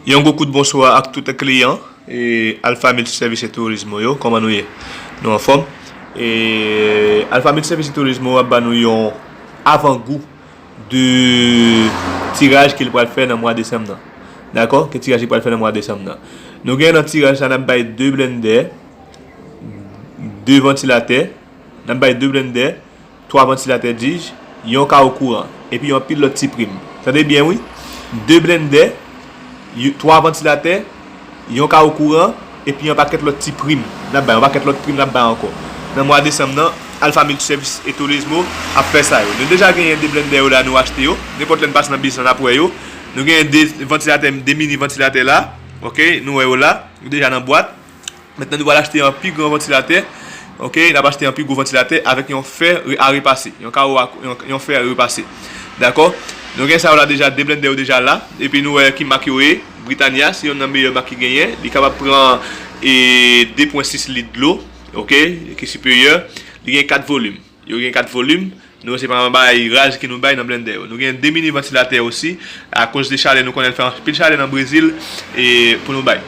Yon gwo kout bonswa ak tout kliyan Alpha Multi Service et Tourismo yo, kòman nou ye? Nou anfòm? Alpha Multi Service et Tourismo ap ba nou yon avan gou de tiraj ke li pral fè nan mwa desanm nan. Dakò? Ke tiraj li pral fè nan mwa desanm nan. Nou gen nan tiraj la n ap bay 2 blennde, 2 vantilatè, n ap bay 2 blennde, 3 vantilatè dij, yon kawo kouran, epi anpil lòt ti prim. Tande byen wi, 2 blendè, 3 vantilatè, yon kawo kouran, epi yon pakèt lòt ti prim n ap bay, yon pakèt lòt prim n ap bay ankò. Nan mwa desanm nan, Alpha Multiservices e Tolesmo ap fè sa yo. Nou deja genyen 2 blendè yo la, nou achte yo. Nenpòt lè n pase nan biznis lan n ap wè yo. Nou genyen 2 vantilatè, 2 mini vantilatè la, ok, nou wè yo la, yo deja nan bwat. Mentnan nou pral achte yon pi gran vantilatè ok nap achte yon pi gwo vantilatè avèk yon fè a repase yon karo a yon fè a repase dakò nou gen sa yo la deja de blendè yo deja la epi nou wè ki mak yo ye britania se yonn nan meyè mak ki genyen li kapab pran e 2 pwen 6 lit dlo ok ki siperyè li gen 4 volim. Yo gen 4 volim, nou yo se pa anba aeraj ke nou bay nan blendè yo. Nou gen 2 mini vantilatè osi, a koz de chalè nou konnen fè anpil chalè nan Brezil e pou nou bay.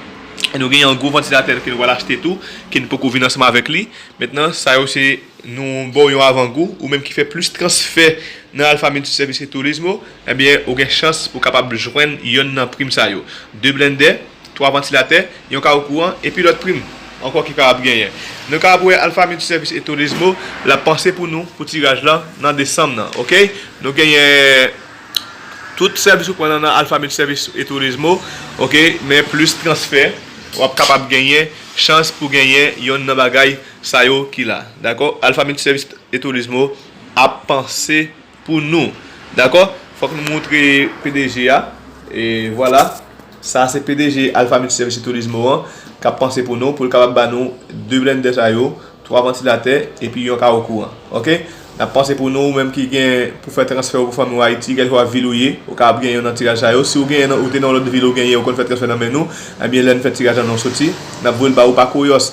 E nou gen yon gwo vantilatè ke nou pral achte tou, ke nou poko vin ansanm avèk li. Mentnan sa yo se nou baw yon avan gou, ou menm ki fè plis transfè nan Alpha Multiservice et Turismo, ebyen ou gen chans pou kapab jwenn yonn nan prim sa yo. 2 blendè. 3 vantilatè, yon kawo kouran, epi lòt prim ankò ki kapab genyen. Nou kapab wè Alpha Multiservice et Turismo l ap panse pou nou pou tiraj lan nan desanm nan. Ok. Nou genyen tout sèvis ou pran nan nan Alpha Multiservice et Turismo, ok, men plis transfè, w ap kapab genyen chans pou genyen yonn nan bagay sa yo ki la. Dakò? Alpha Multiservice et Turismo ap panse. Pou nou. Dakò? Fòk nou moutre pdg a. E vwala. Sa se pdg Alpha Multi Service Turismo an k ap panse pou nou pou l kapab ba nou 2 blennde sa yo, 3 vantilatè epi yon kawo kouran. Ok? N ap panse pou nou. Ou menm ki gen pou fè transfè ou pou fanmi ou Ayiti, kèlkeswa vil ou ye, ou kapab genyen nan tiraj sa yo. Si ou genyen nan ou te nan yon lòt vil ou genyen ou konn fè transfè nan men nou, enbyen lè n fè tiraj la nou soti, n ap voye l ba ou pa kouyòs.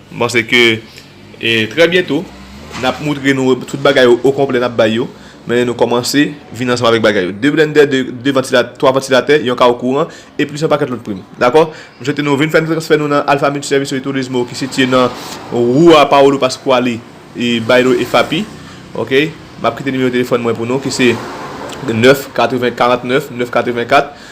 M panse ke trè byento n ap moutre nou tout bagay yo okonplè n ap bay yo. Men nou kòmanse vin ansanm avèk bagay yo. De blennde, de vantilatè, twa vantilatè, yon kawo kouran e plis yon pakèt lòt prim. Dakò? M swete nou vin fè transfè nou nan Alfa Multiservicio y Turismo ki sitye nan Rua Paolo Pasquali y Bairro Efapi. Ok? M ap kite nimewo telefòn mwen pou nou ki se 9 80 49 9 84.